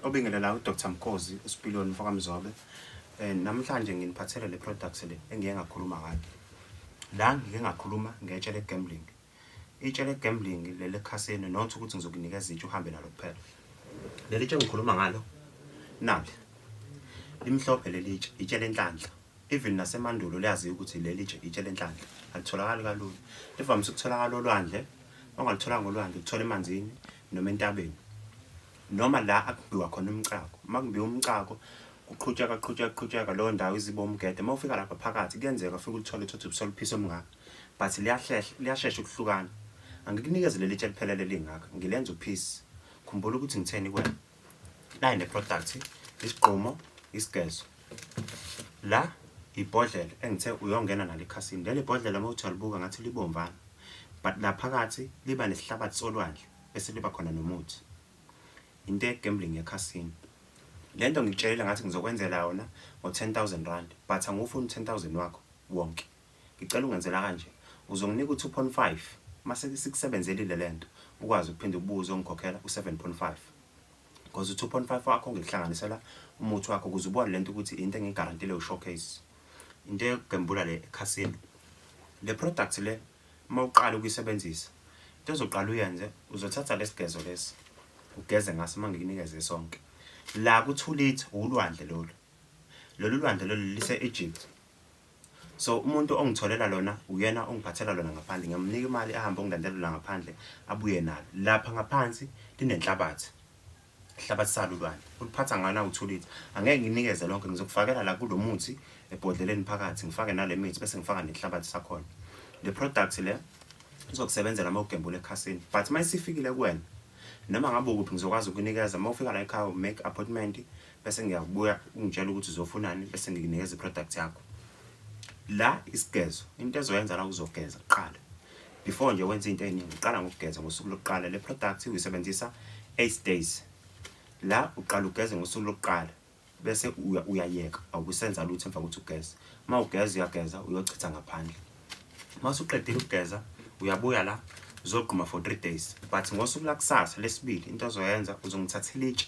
obingelela udr mkhozi usipiloni mfokamzobe um namhlanje nginiphathele le products le engiye ngakhuluma ngayo la ngike ngakhuluma ngetshe le-gambling itshe le-gambling leli ekhasini not ukuthi ngizokunikeza itshe uhambe nalo kuphela leli tshe ngikhuluma ngalo nali limhlophe leli tshe itshe lenhlanhla even nasemandulo liyaziwa ukuthi leli tshe itshe lenhlanhla alitholakali kalula livamise ukutholakala olwandle ongalitholanga olwandle ukuthola emanzini noma entabeni noma la akubiwa khona umcako uma kubiwa umcako kuqhutsheka qhutsheka qhutsheka leyo ndawo iziba umgede uma ufika lapha phakathi kuyenzeka ufike ulithole uthothe ubusoluphiso omngaka but liyahlehla liyashesha ukuhlukana angikunikeze leli tshe liphelele lingaka ngilenza uphisi khumbula ukuthi ngitheni kwena nayi ne product isigqumo isigezo la ibhodlela engithe uyongena nalo ekhasini leli bhodlela uma uthi alibuka ngathi libomvana but laphakathi liba nesihlabathi solwandle esiliba khona nomuthi into egambling yekhasini le nto ngikutshelile ngathi ngizokwenzela yona ngo-10 000 rand but angufuni u-10 000 wakho wonke Ngicela ungenzela kanje. Uzonginika u-2.5 mase sikusebenzelile lento ukwazi ukuphinde ubuze ongikhokhela u-7.5. Because u-2.5 wakho ngikuhlanganisela umuthi wakho ukuze ubone lento ukuthi into engigarantile u-showcase. Into yokugembula le ekhasini. Le product le uma uqala ukuyisebenzisa into ezoqala uyenze uzothatha lesigezo lesi ugeze ngaso uma ngikunikeze sonke la ku-2 litre ulwandle lolu lolu lwandle lolu lise-egypt So umuntu ongitholela lona uyena ongiphathela lona ngaphandle ngiyamnika imali ahambe ongilandela la ngaphandle abuye nalo lapha ngaphansi linenhlabathi ihlabathi salo ulwane uliphatha ngana uthulitha angeke nginikeze lonke ngizokufakela la kulo muthi ebhodleleni phakathi ngifake nale mithi bese ngifaka nenhlabathi sakhona le product le izokusebenzela uma ugembula ekhasini but uma isifikile kuwena noma ngabe ukuphi ngizokwazi ukunikeza uma ufika la ekhaya make appointment bese ngiyakubuya ungitshela ukuthi uzofunani bese ngikunikeza iproduct yakho la isigezo into ezoyenza la uzogeza kuqala before nje wenza into eningi uqala ngokugeza ngosuku lokuqala le product uyisebenzisa 8 days la uqala ugeze ngosuku lokuqala bese uyayeka awukusenza lutho emva kokuthi ugeze uma ugeza uyageza uyochitha ngaphandle uma usuqedile ukugeza uyabuya la uzogquma for 3 days but ngosuku lakusasa lesibili into azoyenza uzongithathela itshe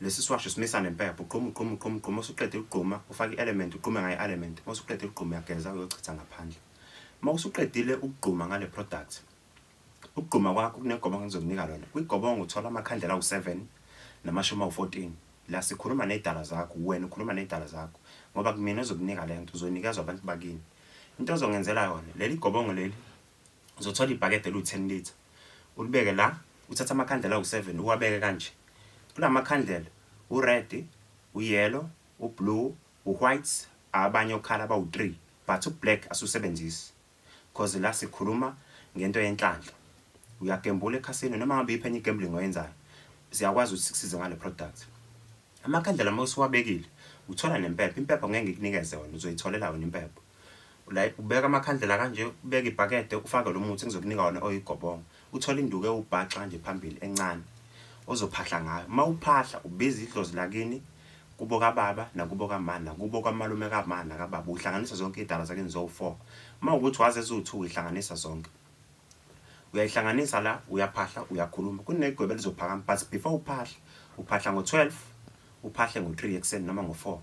Lesi siwasho simisa nempepho, ugqume ugqume ugqume ugqume usuqede ukugquma ufake i-element ugqume ngayo i-element uma usuqede ukugquma uyageza uyochitha ngaphandle. Uma usuqedile ukugquma ngale product ukugquma kwakho kunegobongo engizokunika lona. Kwigobongo uthola amakhandlela awu-7 namashumi awu-14. La sikhuluma neydala zakho, wena ukhuluma neydala zakho ngoba kumina ozokunika le nto, uzonikezwa abantu bakini. Into ozongenzela yona, leli gobongo leli Uzothola ibhakede eliwu-10 litre, ulibeke la, uthathe amakhandlela awu-7 uwabeke kanje. Kula makhandlela u-red, u-yellow, u-blue, u-white, abanye okhala bawu-three but u-black asiwusebenzisi cause la sikhuluma ngento yenhlanhla. Uyagembula ekhasini noma ngabe iyiphi enye i-gambling oyenzayo, siyakwazi ukuthi sikusize ngale product. Amakhandlela uma usuwabekile uthola nempepho impepho ngeke ngikunikeze wena uzoyitholela wena impepho like ubeka amakhandlela kanje ubeke ibhakede ufake lo muthi ngizokunika wona oyigobongo uthole induku ewubhaxa nje phambili encane ozophahla ngayo uma uphahla ubiza idlozi lakini kubo kababa nakubo kamani nakubo kwamalume kamani nakababa uhlanganisa zonke iy'dalwa zakini zowu-four uma ukuthi wazi eziwu-two uyihlanganisa zonke uyayihlanganisa la uyaphahla uyakhuluma kunegwebe lizophakama but before uphahla uphahla ngo-12 uphahle ngo-3 ekuseni noma ngo-4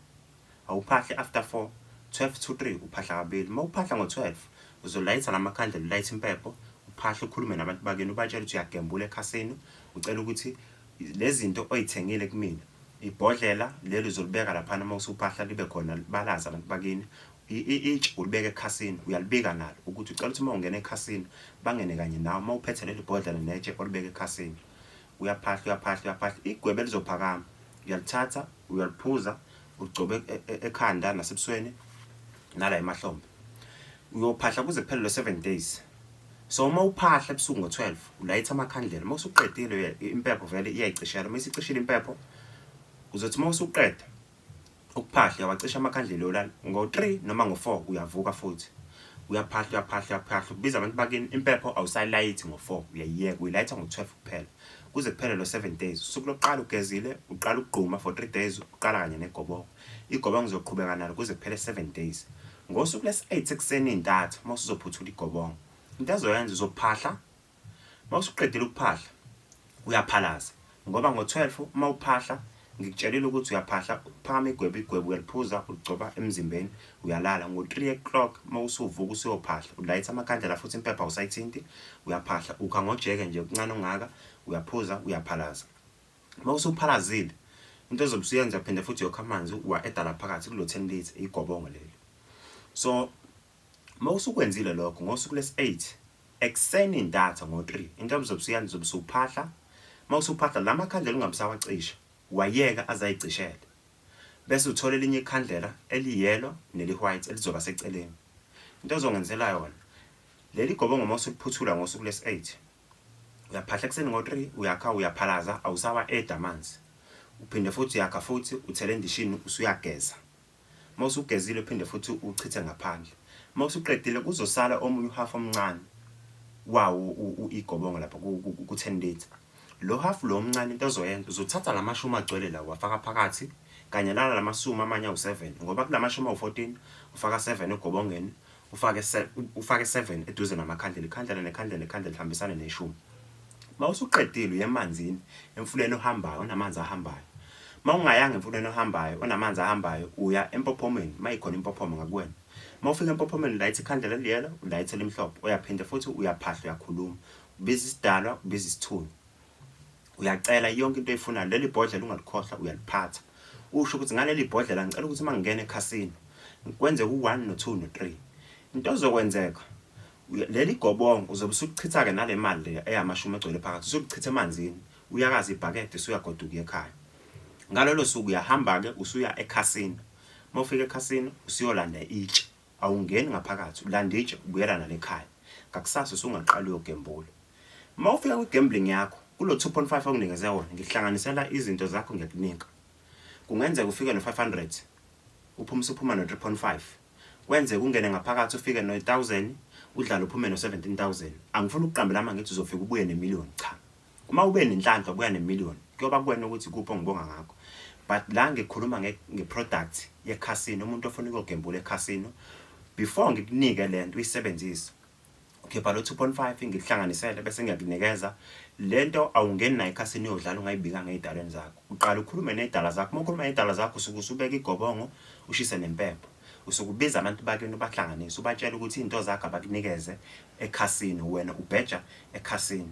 awuphahle after 4 12 to 3 uphahla kabili uma uphahla ngo-12 uzolayitha la makhandlela ulayitha impepho uphahle ukhulume nabantu bakini ubatshela ukuthi uyagembula ekhasini ucela ukuthi le zinto oyithengile kumina ibhodlela leli uzolibeka laphana uma usuphahla libe khona balazi abantu bakini Itshe ulibeka ekhasini uyalibika nalo ukuthi ucela ukuthi uma ungena ekhasini bangene kanye nawe uma uphethe leli bhodlela netshe olibeka ekhasini uyaphahla uyaphahla uyaphahla igwebe lizophakama uyalithatha uyaliphuza ugcobe e, e, ekhanda nasebusweni nala emahlombe uyophahla kuze kuphele lo-seven days so uma uphahla ebusuku ngo-12 ulayitha amakhandlela uma usuqedile impepho vele iyayicishela uma isicishile impepho uzothi uma usuqeda Ukuphahle wacisha amakhandlela olala ngo-3 noma ngo-4 uyavuka futhi. Uyaphahla uyaphahla uyaphahla ubiza abantu bakini impepho awusalayithi ngo-4 uyayiyeka uyilayitha ngo-12 kuphela. Kuze kuphele lo 7 days. Usuku lokuqala ugezile uqala ukugquma for 3 days uqala kanye negoboko. Igobongo uzoqhubeka nalo kuze kuphele 7 days. Ngosuku lesi-8 ekuseni intatha uma usuzophuthula igobongo. Into azoyenza uzophahla Uma usuqedile ukuphahla uyaphalaza ngoba ngo-12 uma uphahla ngikutshelile ukuthi uyaphahla uphakama igwebu igwebu uyaliphuza uligcoba emzimbeni uyalala ngo-3 o'clock uma usuvuka usuyophahla ulayitha amakhandlela futhi impepha usayithinti uyaphahla ukha ngojeke nje kuncane ungaka uyaphuza uyaphalaza uma usuphalazile into ezobe usuyenza phinde futhi yokha amanzi uwa edala phakathi kulo 10 litre igobongo leli so Uma usukwenzile lokho ngosuku lesi-8 ekuseni ntatha ngo-3 inkabi zobe usuyala zobe usuphahla uma usuphahla la makhandlela ungabe usawacisha wayeka azayicishele bese uthola elinye ikhandlela eliyelo neli-white elizoba seceleni into ozongenzela yona leli gobongo uma usuliphuthula ngosuku lesi-8 uyaphahla ekuseni ngo-3 uyakha uyaphalaza awusawa-edi amanzi uphinde futhi uyakha futhi uthele endishini usuyageza Uma usugezile uphinde futhi uchithe ngaphandle. Uma usuqedile kuzosala omunye uhafu omncane wawo igobongo lapha ku-10 litre. Lo hafu lo omncane into ozoyenza uzothatha la mashumi agcwele lawo wafaka phakathi kanye nala la masumi amanye awu-7 ngoba kula mashumi awu-14 ufaka 7 egobongeni ufake se, ufake 7 eduze namakhandlela ikhandlela nekhandlela nekhandlela lihambisane neshumi mawusuqedile uye emanzini emfuleni ohambayo onamanzi ahambayo mawungayanga emfuleni ohambayo onamanzi ahambayo uya empophomeni mayikhona impophomo ngakuwena mawufika empophomeni ulayitha ikhandlela liyela ulayitha elimhlophe uyaphinde futhi uyaphahla uyakhuluma ubiza isidalwa ubiza isithunywa uyacela yonke into oyifunayo leli bhodlela ungalikhohlwa uyaliphatha usho ukuthi ngaleli bhodlela ngicela ukuthi uma ngingena ekhasini kwenzeka u-one no-two no-three into ozokwenzeka leli gobongo uzobe usulichitha-ke nale mali le eyamashumi egcwele phakathi usulichitha emanzini uyakaza ibhakede usuyagoduka ekhaya ngalolo suku uyahamba-ke usuya ekhasini uma ufika ekhasini usuyolanda itshe Awungeni ngaphakathi ulande itshe ubuyela nalo ekhaya. Ngakusasa usungaqala uyogembula. Uma ufika kwi-gambling yakho kulo 2.5 onginikeze wona ngikuhlanganisela izinto zakho ngiyakunika. Kungenzeka ufike no-500 uphume usuphuma no-3.5 kwenzeka ungene ngaphakathi ufike no-1000 udlale uphume no-17000 angifuni ukuqambela amanga ngithi uzofika ubuye nemiliyoni cha Uma ube nenhlanhla kuya ne-million kuyoba kuwena ukuthi kuphi ongibonga ngakho but la ngikhuluma nge-product ye-casino umuntu ofuna ukuyogembula e-casino before ngikunike le nto uyisebenzise ukhipha lo 2.5 ngikuhlanganisele bese ngiyakunikeza le nto awungeni nayo ekhasini uyodlala ungayibika ngey'dalweni zakho uqala ukhulume ney'dala zakho uma ukhuluma ngey'dala zakho usuke usubeka igobongo ushise nempepho usuke ubiza abantu bakini ubahlanganise ubatshela ukuthi iy'nto zakho abakunikeze ekhasini wena ubheja ekhasini